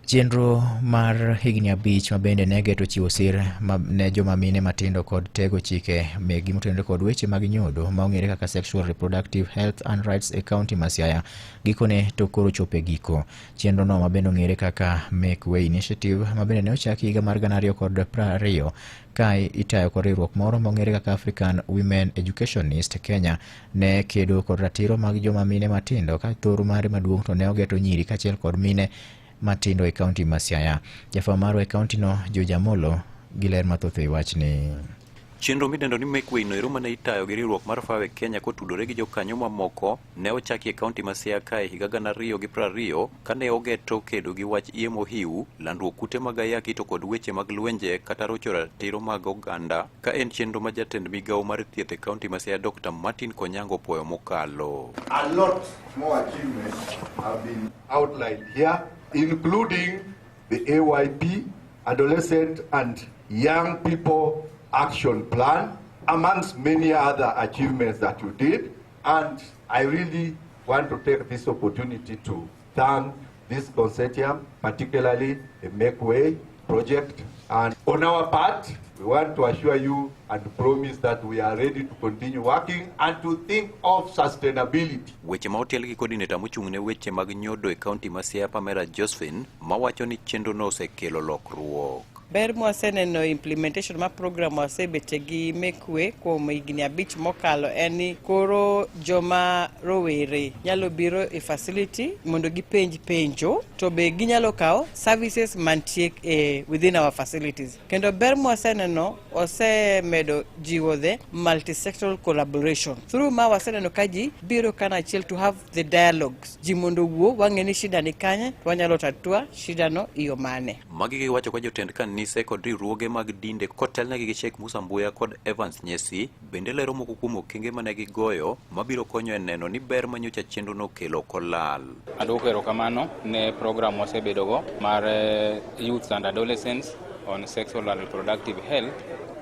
Chenro mar higni abich ma bende ne geto chiwo sir ma- ne joma mine matindo kod tego chike megi motenore kod weche mag nyodo ma ong'ere kaka Sexual Reproductive Health and Rights e kaunti ma Siaya gikone to koro chopo e giko. Chenrono ma bende ong'ere kaka Make Way Initiative ma bende ne ochaki higa mar gana ariyo kod piero ariyo ka itayo kod riwruok moro ma ong'ere kaka African Women Educationist Kenya ne kedo kod ratiro mag joma mine matindo ka thoro mare maduong' to ne ogeto nyiri kaachiel kod mine matindo e kaunti ma Siaya. Jafwambo marwa e kauntino George Amolo gi ler mathoth e wachni. Chenro midendo ni Make Way noero mane itayo gi riwruok mar Fawe Kenya kotudore gi jokanyo mamoko ne ochaki e kaunti ma Siaya kae higa gana ariyo gi piero ariyo kane ogeto kedo gi wach iye mohiu, landruok kute mag ayaki to kod weche mag lwenje kata rocho ratiro mag oganda ka en chenro ma jatend migawo mar thieth e kaunti ma Siaya Dr. Martin Konyango opwoyo mokalo. A lot more achievements have been outlined here, including the AYP, Adolescent and Young People Action Plan, amongst many other achievements that you did. And I really want to take this opportunity to thank this consortium, particularly the Make Way project. And on our part, we want to assure you and promise that we are ready to continue working and to think of sustainability. Weche ma otel gi coordinator mochung' ne weche mag nyodo e kaunti ma Siaya Pamela Josephine mawacho ni chenrono osekelo lokruok. Ber mwaseneno implementation ma program wasebete gi mekwe kuom higni abich mokalo en ni koro joma rowere nyalo biro e facility mondo gipenj penjo to be ginyalo kawo services mantie e within our facilities. Kendo ber mwaseneno osemedo jiwo the multisectoral collaboration through ma waseneno ka ji biro kana achiel to have the dialogues ji mondo owuo wang'e ni shida ni kanye to wanyalo tatua shidano iyo mane. Magi giwacho ka jotend kanise kod riwruoge mag dinde kotelnegi gi Sheikh Musa Mbuya kod Evans Nyesi bende lero moko kuom okenge mane gigoyo mabiro konyo e neno ni ber ma nyocha chenro nokelo ok olal. Adwoko erokamano ne program wasebedogo mar eh, Youth and Adolescents on Sexual and Reproductive Health.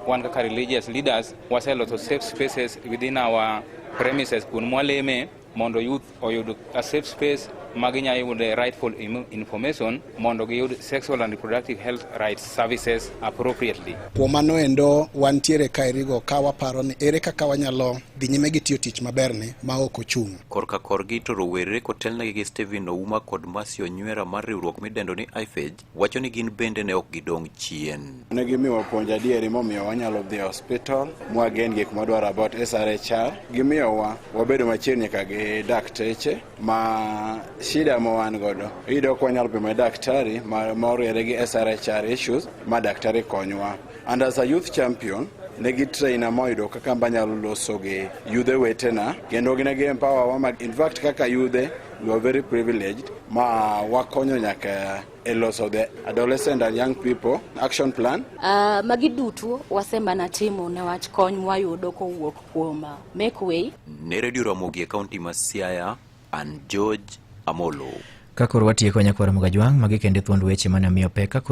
Wan kaka religious leaders waseloso safe spaces within our premises kuond mwaleme mondo youth oyud a safe space ma ginyalo yude rightful information mondo giyud sexual and reproductive health rights services appropriately. Kuom mano endo wantiere ka erigo ka waparo ni ere kaka wanyalo dhi nyime gi tiyo tich maberni ma ok ochung'. Korka korgi to rowere kotelnegi gi Stephen Ouma kod Mercy Onywera mar riwruok midendo ni IFEJ wacho ni gin bende ne ok gidong' chien. Ne gimiwa puonj adieri momiyo wanyalo dhi e hospital mwagen gik mwadwaro about SRHR. Gimiyowa wabedo machiegni ka gi dakteche ma shida ma wan godo iyudo ok wanyalo pimo daktari ma oriere gi SRHR issues ma daktari konywa. And as a youth champion ne gi traina moyudo kaka mbanyalo loso gi yudhe wetena kendo ne gi empower wa in fact kaka yudhe You are very privileged. Ma wakonyo nyaka e loso the adolescent and young people action plan. Uh, magi duto wasemana timo newach kony mwayudo kowuok kuom ah, Make Way. Ne Radio Ramogi e kaunti ma Siaya, an George Amolo. Ka koro watieko nyakwar Mugajwang', magi kende thuond weche mane omiyo pek ka koro